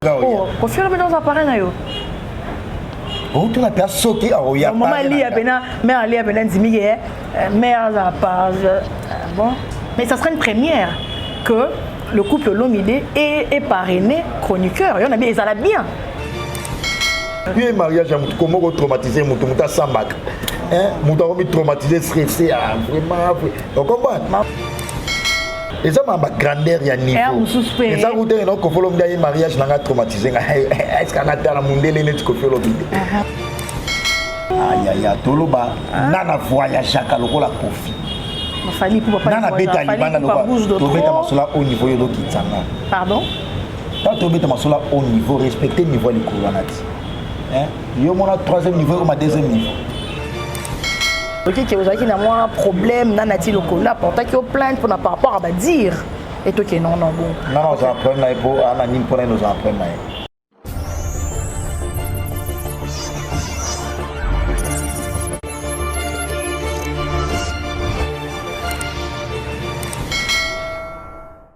Oh, kofi olobi naoza pare na yo outuna mpe asoki akoya mama aliya mpena mare aliya mpena ndimi ke eh, mare aza par euh, bon mais ça sera une première que le couple Lomide est, est parrainé chroniqueur. Il y en a bien, ils allaient bien. ye mariage ya motu koma oko traumatize motu motu asambaka motu akomi traumatize stresse ya ah, vraiment okomprendre eza ma bagrandeur ya niveaueza kutenge na kofi olombi aye mariage na nga traumatise nga eske anga tala mondele neti kofi olobi te ayaya toloba nga na voyageaka lokola kofi nga na beta libanda lokola tobeta masolo au niveau yo lokitsanga Tanto obeta masola au niveau, respecter niveau ya likolo wana ti. Hein? Yo mona troisième niveau ekoma deuxième niveau. oki ke ozalaki na mwa problème na nati lokola aportaki yo plainte mpona par rapport ya badire etoke non non bon nga na ozala problème na ye mpo ana nini mpo na ye nozala problème na ye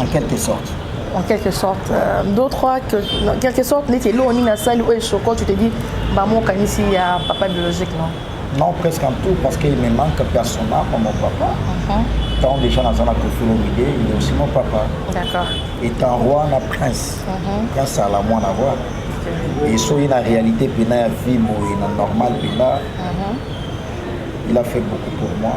en quelque sorte en quelque sorte euh, d'autres trois en quelque sorte neti eloko nini asali oyo esoko tu te dis mama okanisi ya papa biologique non non presque en tout parce qu'il me manque personnellement comme mon papa uh -huh. tant déjà naza na kofilo mide il est aussi mon papa d'accord étant roi na prince uh -huh. prince ala mwana roi okay. et soki na réalité mpena ya vie boye na normal mpena uh -huh. il a fait beaucoup pour moi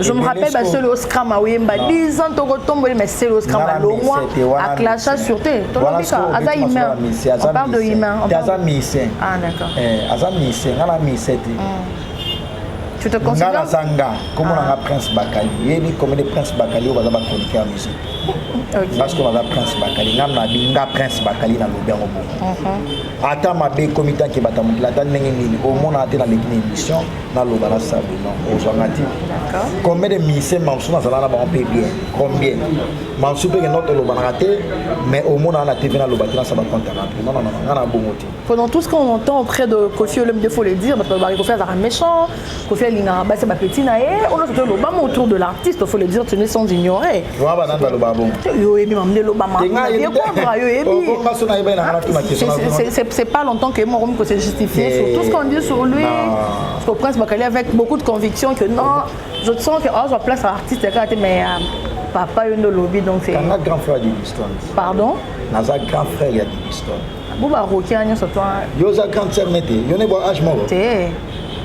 Je me rappelle ba solo scram oyemba 10 ans toko tomboli mais solo scram ba longwa a clasha sur te to lobi ka aza humain on parle de humain on parle aza musicien ah d'accord eh aza musicien ngala musicien te tu te considères ngala zanga comment on a prince bakali yebi comme des prince bakali on va ba chroniquer musique parce que baza prince bakali nga na binga prince bakali na lobi yango bongo ata mabe ekomi tanke batamokila ata ndenge nini omonana te na leki na émission naloba na sabino ozwanga te combien de ministère mamsu nazala na bango mpe bien combien mamsu mpe kenda tolobanaka te mais omonaka na tv naloba te nasaba compte ya bato nonnono nga na bongo te pendant tout ce qu'on entend auprès de kofi olem de faut le dire bato balobaka kofi azalaka méchant kofi alingaka basi bapetit na ye onoso toloba mo autour de l'artiste faut le dire tu ne sans ignorer Wa ba nanda loba bongo. Yo ebi mam de loba mam. Ye comprend yo ebi. Oh, bongo so na yeba na ngana tuna question. C'est c'est pas longtemps que moko ko se justifier eh. sur tout ce qu'on dit sur lui. Parce que Prince Bakali avec beaucoup de conviction que non, je te sens que oh, je place artiste là mais euh, papa yo ndo lobi donc c'est. Un grand frère du Liston. Pardon? Naza grand frère ya Liston. Bo ba rokia nyo so toi. Yo za grand sœur mete. Yo ne bo âge moko. Te.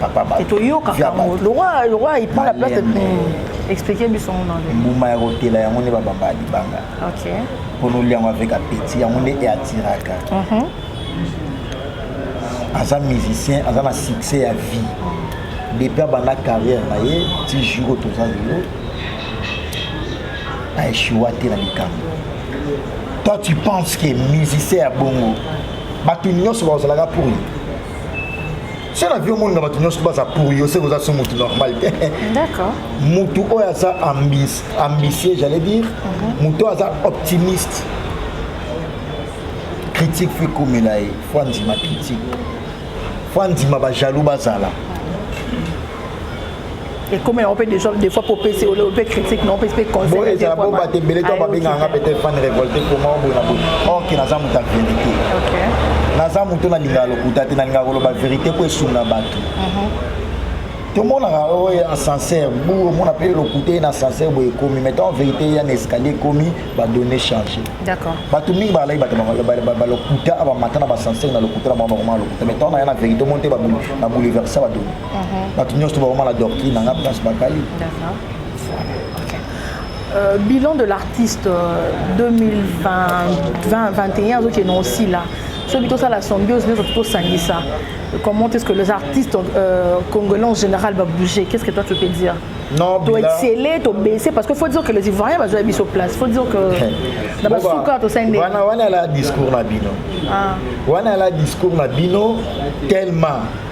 papa ba toyoka kango lokola lokola il prend la place de hmm. expliquer biso mon anglais mbuma ya kotela yango nde babamba libanga ok mpo nolia yango avec appétit yango nde eatiraka mhm. aza musicien aza na succès ya vie depuis abanda carrière na ye ti jour toza lelo aeshuwa te na likambo toi tu penses que musicien ya bongo bato nyonso bazalaka pour ye so na vie omonaka bato nyonso baza curiose koza so motu normal te motu oyo aza ambitieux j'allais dire mhm. motu oyo aza optimiste critique fo ekomela ye fo andima critique fo andima bajaloux bazala ekomi yango mpe déjà des fois mpo opesi ope critique na opesi mpe conseil ezala bomba te ebele to babengaka nga peut-être fan révolté koma oboye na boye or ke naza moto ya vérité naza moto nalingaka lokuta te nalingaka koloba vérité mpo esunga bato tomonaka oyo ya ascenseur bu omona mpe lokuta ye na ascenseur boye ekomi mais tant vérité ya na escalier ekomi badonne change bato mingi balai bato balokuta bamata na baascenseur na lokuta na bango bakoma lokuta mais tant na ya na vérité omoni te babouleversa badonne mhm. bato nyonso bakoma na doctrine na nga place bakali Euh, bilan de l'artiste euh, 2020-2021 azoki ena osila soki tosala symbiose nyonso tosangisa comment est-ce que les artistes euh, congolais en général va bouger qu'est-ce que toi tu peux dire non to exceller to baisser parce que faut dire que les ivoiriens bazwa biso place faut dire que na basuka tosende wana wana la discours na bino ah. wana la discours na bino tellement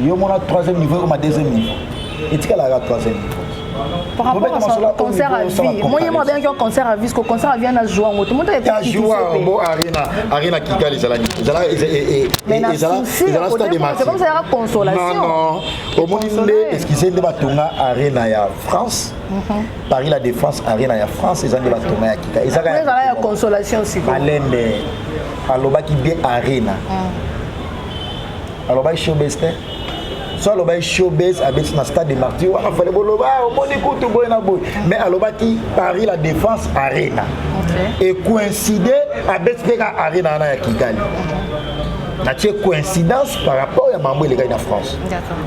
yo mona troisième niveau ekoma deuxième niveau etikalaka troisième niveau par rapport à son concert à vie moi ye mo abengaki yo concert à vie ko concert à vie ana joua yango tomoto bo arena arena kigali ezalaki ezalaezalaka consolation omoni nde excuse nde batonga arena ya france mhm. paris la défense arena ya france eza nde batonga ya kigali ezaka ya consolation siko malembe alobaki bien arena mm. alobaki showbase te so alobaki showbase abeti na stade de martyr wana fale boloba ah, omoni kutu boye na boye mais alobaki paris la défense arena e coïncide abeti mpe ka arena wana ya kigali natie coïncidence par rapport ya mambo elekaki na france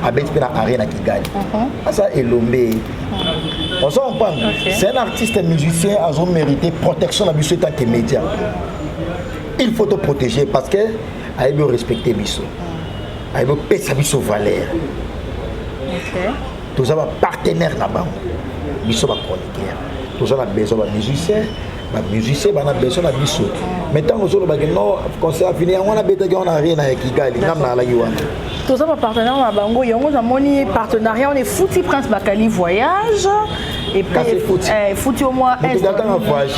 abeti mpe na arena kigali uh-huh. asa elombe uh-huh. ozo comprendre c'est un artiste musicien azo mérité protection na biso etant que média il faut te protéger parce que ayebi orespecte biso ayebi opesa biso valeur toza bapartenaire na bango biso bachroniqueur toza na besoin bamusicien bamusicien bana besoin na biso mais ntango ozolobaki no concert afini yango wana abetaki yango na arena ya kigali ngambo nalaki wana toza bapartenaire na bango yango namoni partenariat wana efuti prince bakali voyage efuti au moins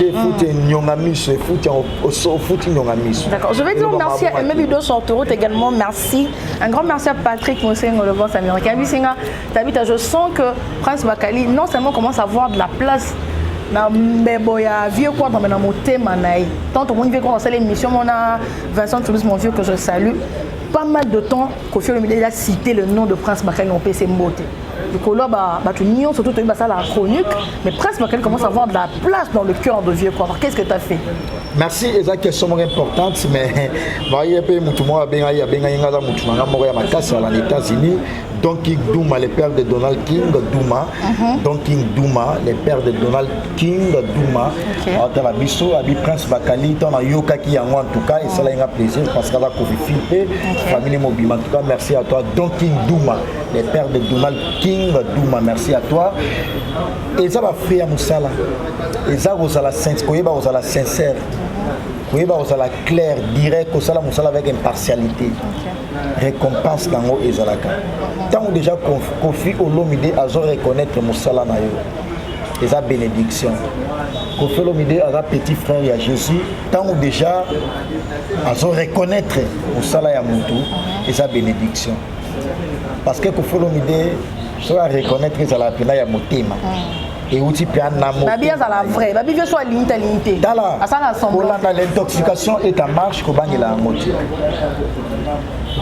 efuti nyonga miso efuti Ofuti ndonga miso. D'accord. Je vais dire merci à Aimé Bido sur autoroute également. Merci. Un grand merci à Patrick Mosengo, le boss américain. Bisinga, Tabita, je sens que Prince Bakali non seulement commence à avoir de la place na mbebo ya vieux quoi dans na motema na ye tant au moins vieux quoi asala émission mona Vincent Toulouse mon vieux que je salue pas mal de temps Kofi Olomide il a cité le nom de Prince Bakali na opesa mbote likolo ba bato nyonso to toyebi basalaka chronique mais presque bakeli commence avoir de la place dans le cœur de vieux quoi qu'est-ce que tu as fait merci eza question moko importante mais baye mpe motu moko abengaki abengaki ngai aza motu na ngai moko ya makasi ala na états-unis Don King Duma, le père de Donald King Duma. Uh-huh. Don King Duma, le père de Donald King Duma. Ata la biso, abi Prince Bakali, ton a yoka ki yango en tout cas, et ça là, il a plaisir parce qu'elle a confié famille mobile. En tout cas, merci à toi, Don King Duma. le père de Donald King Duma merci à toi eza ba fait ya musala eza kozala koyeba kozala sincère koyeba kozala clair direct kosala mosala avec impartialité récompense nango ezalaka ntango déjà kofi olomide azo reconnaître mosala na yo eza bénédiction kofi olomide aza petit frère ya jésus ntango déjà azo reconnaître mosala ya motu eza bénédiction parce que kofi olomide soki areconnaitre ezala mpena ya motema ah. euti mpea namobabi azala vrai babi vie so alingi te alingi te tala kolanda l'intoxication est en marche kobangela yango te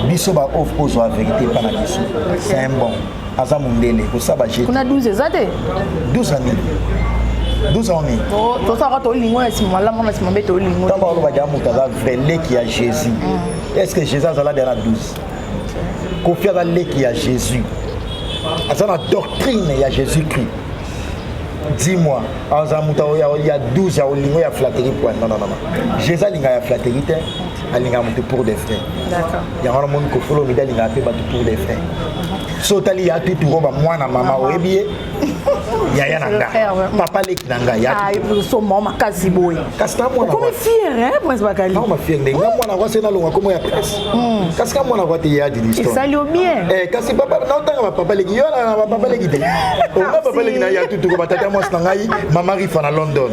biso baof kozwa verité epa na biso c'est un bon aza mondele kosaba jekuna 12 eza te 12 ya nini 12 ans nini tosaka tolingo ya nsima malamu na nsima mbe tolingo ntango alobaki ya moto aza vrai leki ya jésus mm. est ce que jésus azala bia na 12 Kofi aza leki ya Jésus. Aza na doctrine ya Jésus-Christ. Dis-moi, aza moto ya 12 ya olingo ya flatterie point. Non, non, non. Jésus alinga ya flatterie te. Alinga moto pour des frères. D'accord. Yango na moni Kofi Olomide alinga pe bato pour des frères. So tali ya tutu roba mwana mama oyebi ye. yaya na nga papa leki na nga yasomo makasi boye okomi fiere prince bakali mafiere ndenge nga mwana kwa se nalonga komo ya prince hmm. kasi ka mwana kwa te ya dilisesali yo bien eh, kasi naotanga bapapa leki yo na bapapa leki te onga papa leki na ya tutuko batata mwasi na ngai mama rifa na london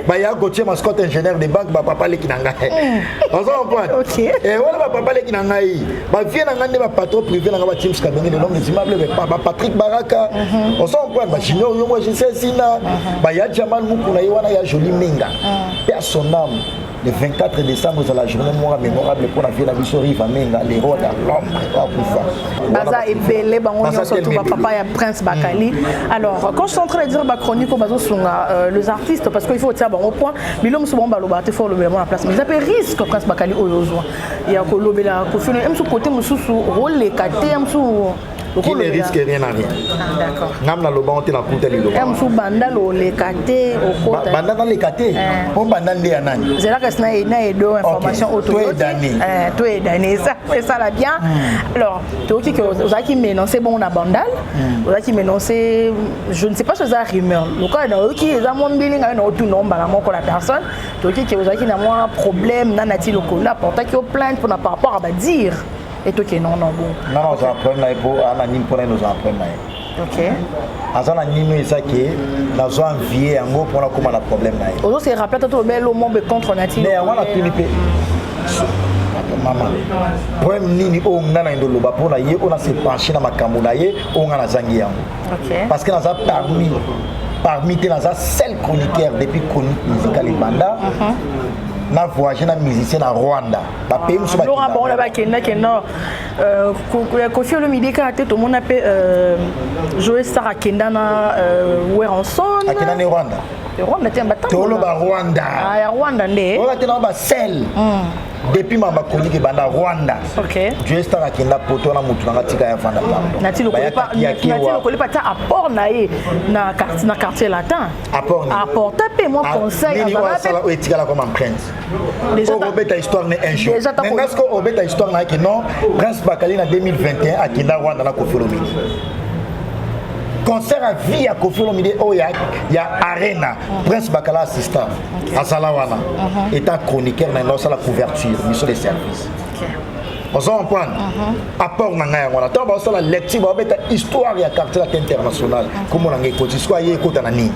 baya kotie mascote ingénieur de banque bapapa leki na ngai hmm. ozo comprendre eh, wana bapapa leki na ngai ba vie na nga nde ba patron privé na nga ba James Kabenge le nom des immeubles mais pas ba Patrick Baraka mhm. on s'en prend ba Junior Yongo je sais sina mhm. ba ya Jamal Mukuna ye wana ya Jolie Menga mhm. père son âme le 24 décembre eza la journée mora mémorable mpo na vie na biso riva menga le roi de l'homme akufa baza ebele bango nyonso tout bapapa ya prince bakali mm. alors quand je suis en train de dire bachronique oyo bazosunga euh, les artistes parce que il faut otia bango point bilo mosusu bango baloba te fo olobela bango na place mais eza mpe risque prince bakali oyo ozwa ya kolobela kofi olomide ya mosusu kote mosusu okoleka te ya mosusu qui ne risque rien à rien ah, ngam naloba ngo te nakuta liloba mosu banda loleka te banda naleka te mpo eh. banda nde ya nani zelaka si na edo information otoedane eh, esala bien hmm. alors toyoki ke ozalaki menonce bongo na bandal hmm. ozalaki menonce je ne sais pas soza rumeur lokola nayoki eza mwa mbili ngai naotuna mbala moko la personne toki ke ozalaki na mwa problème na nati lokola aportaki yo plainte mpona par rapport à badire etoke non non bon nga na ozala problème na ye mpo aa na nini mpona ye nozala problème na ye ok aza na nini eza ke nazwa envie yango mpona akóma na problème na ye ozo se rappeler ata tolobela lo mombe contre nati mais yango wana tuni mpe mama problème nini oyo nga na yendo loba mpona ye oyo na se penche na makambo na ye oyo nga nazangi yango okay. parce que naza parmi parmi te naza seul chroniqueur depuis chronique musicale ebanda uh mhm. -huh. na voyage na musicien na rwanda bapaye mosusu balonga bango na bakendaki nord euh, kofi olomide kaka te tomona mpe euh, joe star akenda na euh, weranson akenda ne rwanda rwanda te batanga toloba rwanda ah ya rwanda nde oyo te na ba sel hmm. depuis mama chronique ebanda rwanda okay. joestar akenda poto wana motu nanga tika ya vanda pardonnatilokolipa ata apport na ye na quartier latin apporta mpe mwa conseilletikala comme prince obeta histoire ne un jour nga siko obeta histoire na yake non prince bakali na 2021 akenda rwanda na kofolomini concert ya vie ya kofolomide oyo ya arena prince bakala assistant azala wana uh-huh. eta chroniqueur na ngai osala couverture biso de service ozo comprendre uh-huh. apport na ngai yango wana ntango baosala lecture baobeta histoire ya quartier latin international uh-huh. kombo na ngai ekoti siko aye ekota na nini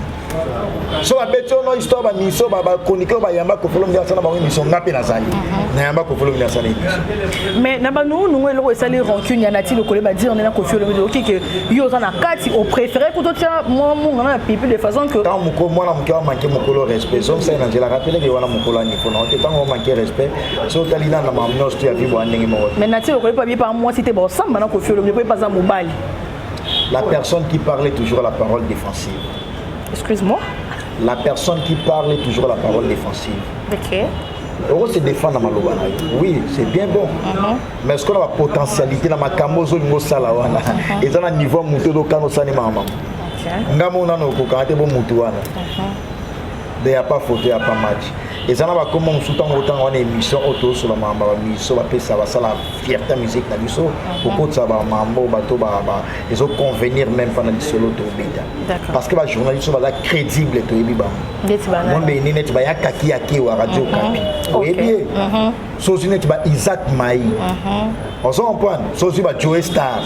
so babeti ono histoire bamiso bachroniqueur bayamba kofolo midi asala bango émission nga mpe nazali nayamba kofolo midi asala émission mais na banungunungu eloko esali rancune ya nati lokole badire nde na kofi olomide okike yo oza na kati oprefere kutu otya mwa mungana na pipi de façon que ntango moko mwana moke amanke mokolo respect zomsai na nzela rapeleke wana mokolo anifo na ote ntango omanke respect so otali na na mamu nyonso to ya bibo andenge moko mais natie lokola epa biepa mwasi te baosamba na kofi olobi epa aza mobali la personne qui parle toujours la parole défensive excuse moi la personne qui parle toujours la parole défensive ok oko se défendre na maloba na yo oui c'est bien bon uh mhm. -huh. mais sikoyo na bapotentialité na makambo ozolinga osala wana uh-huh. eza na niveau ya motu odokana osani mama nga mo nano okokana te bo motu wana uh-huh. de ya pas foto ya pas match eza na bakoma mosusu ntango otanga wana émission oyo tozosola mambo bamiso bapesa basala fierté ya musique na biso kokotisa bamambo bato ezoconvenir même mpa na lisolo tobeta parce que bajournaliste baza crédible toyebi bango mombeni neti bayakaki ya kewa radio kapi oyebi ye so ozwi neti ba isaac mai uh-huh. ozo comprendre so ozwi ba joe star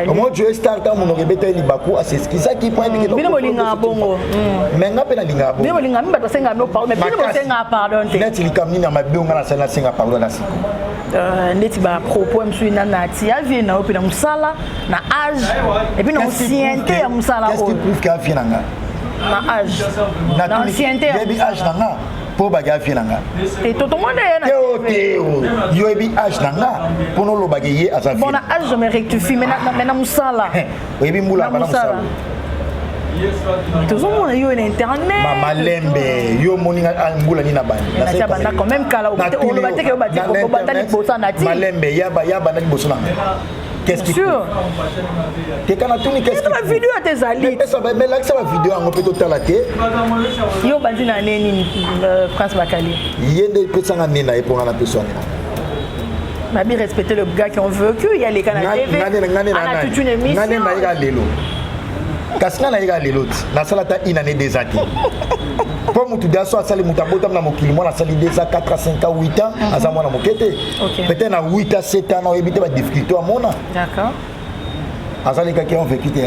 omo eh. joe star ntango monoko ebeta ye libaku aseskisaki mpo ayebikebino bolingaka bongo mm. me nga mpe nalingaka bongo bolingaka mi bato asengaka bino pardon bino bosengaka pardon te neti likambo nini ya mabe onga nasali nasenga pardon na siko euh, neti bapropos ya mosusu ena na ti ya vie na yo mpe na mosala na age epuis na osiente ya mosala oyo na age na ancienneté ya mosala mpo obaki afie na nga te totomona ye teo teo yo oyebi age na nga mpo nolobaka ye aza bon na age me rectifie me na mosala oyebi mbula bana mosala tozomona yo na internet malembe yo omoni nga ah, mbula nini abandabanda quand même kala oloba teke obatali libosa nati malembe yabanda liboso na nga Qu'est-ce qui sûr. Te kana tuni qu'est-ce qui video tezali. Pesa ba mais lakisa ba video yango pe totala te. Yo bandi na neni euh, Prince Bakali. Yende pesa nga nena e pona na pesa nena. Mabi respecter le gars qui on veut que y a les canaux TV. Ngane ngane na nani. Ngane na ira lelo. Kasi nga na ira lelo ti. Na sala ta une année des années. mpo moto daso asali moto abotam na mokili mwana asali 2 a 4 a 5 a 8 ans aza mwana moke te okay. peut-être na 8 à 7 ans oyebi te ba difficulté amona d'accord azalekaki en vécu te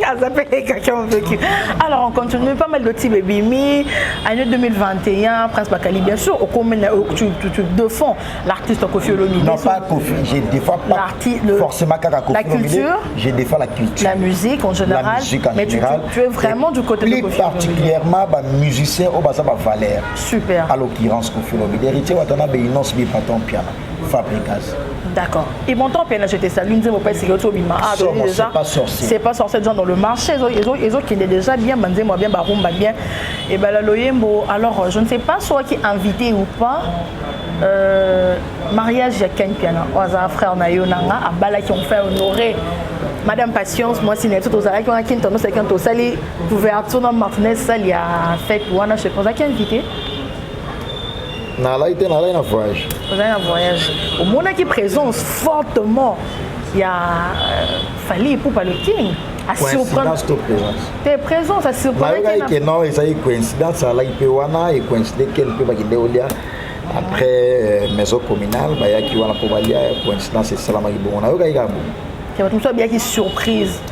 azalekaki en vécu alors on continue pas mal de type ebimi année 2021 prince bakali bien sûr okomi tu, tu, tu défends l'artiste kofi olomide non pas kofi je défends pas le, forcément kaka kofi la culture je défends la culture la musique en général la musique en mais général, tu, tu, tu es vraiment du côté de kofi plus particulièrement ba musiciens au baza ba valeur Super. À l'occurrence, Kofi Olomide, héritier Watana Beinos Bipaton Piana, Fabricas. D'accord. Et mon temps, je te salue, nous avons pas essayé de bima. Ah, déjà. C'est pas sorcier. C'est pas sorcier, genre dans le marché, ils ont, ils ont, qui est déjà bien, banzé, moi bien, barumba bien. Et ben, la loyembo, alors, je ne sais pas, soit qui est invité ou pas. Euh, mariage ya ken piana oyo aza frère na yo nanga abalaki on fait honoré madame patience mwasi na biso tozalaki wana kintonosaki tosali couverture na martinez sale ya fete wana je pense aki invité nalai te nalai na voyage ozali na voyage omonaki présence fortement ya euh, fali epupa le king coïncidence to présence te présence asurprenaki ke non ezali coïncidence alaki mpe wana e coïncide kene mpe bakende olia après euh, maison communale bayaki wana mpo balia coïncidence esalamaki bongo nayokaki kaka bongo bato mosusu abiyaki surprise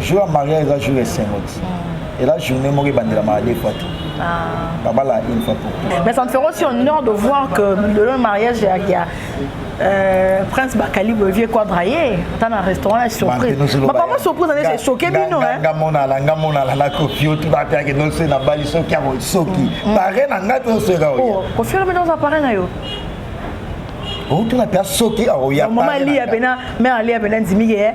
jour ya mariage eza jour ya esengo ti hmm. eza journée moko ebandelamaka de fois te babala ah. une fois pour tout mais ça ne ferait aussi honneur de voir que le mariage ya Euh, prince bakali boye quadra ye ata na restaurant ya surprise bapapa surprise ane esoke bino nga monala nga monala na kofi otu bapeake nose na bali soki yango soki mm. pare na ngai mpe osoyeka oya oh, kofi olobi nde oza pare na yo outuna mpe asoki aoya mama aliya mpena mare aliya mpena ndimi ye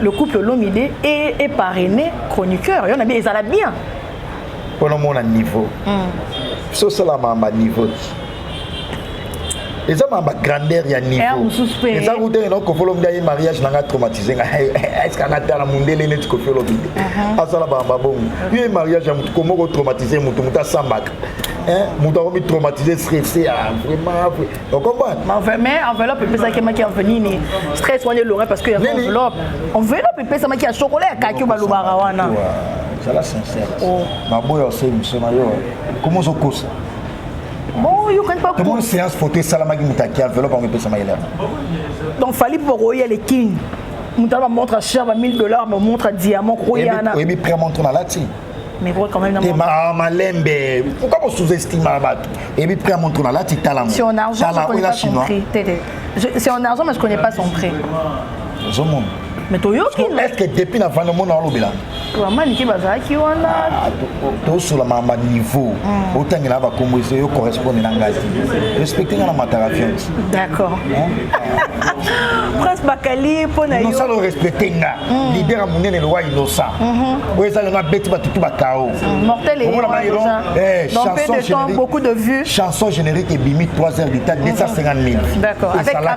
Le couple Lomide est, est parrainé chroniqueur. Il y en a bien, ils allaient bien. Pour le monde à niveau. Mm. Ce c'est la maman niveau. eza ma bagrandeur ya niveau eza kuta ena kofolo mda ye mariage nanga traumatise nga eske anga tala mundele neti kofi olobi uh-huh. asala bamba bongo yo ye mariage ya motu komoko traumatise motu motu asambaka motu akomi traumatise stresse ya vraiment mais enveloppe epesaki maki enveloppe nini stress wana elonga parce que ya enveloppe enveloppe epesamaki ya chocolat ya kaki balobaka wana zala sincère oh. maboya osei miso na yo koma ozokosa tomoni séance photo esalamaki moto aki enveloppe yango epesama elema donc fali mpo bakoya le king moto ana bamontre cher ba 1000 dollars bamontre diamant koyana oyebi prix montre nalati mais pourquoi quand même na ma malembe pourquoi vous sous-estimez bato et puis prix à montre là tu tala si on argent je connais pas son prix c'est en argent mais je connais pas son prix je monte mais toyoki est-ce que depuis na vanda mona olobela bamanike bazalaki wana ah, tosola mama niveau hmm. otangela bakombo eso yo correspondre na ngai te respecte ngai na mataka fiance d'accord prince bakali mpo na yo osala orespecte ngai mm. leader ya monene lowa innocent mm-hmm. oyo eza lelo abeti bato tu bakao chanson générique ebimi 3 heures du temps 250 000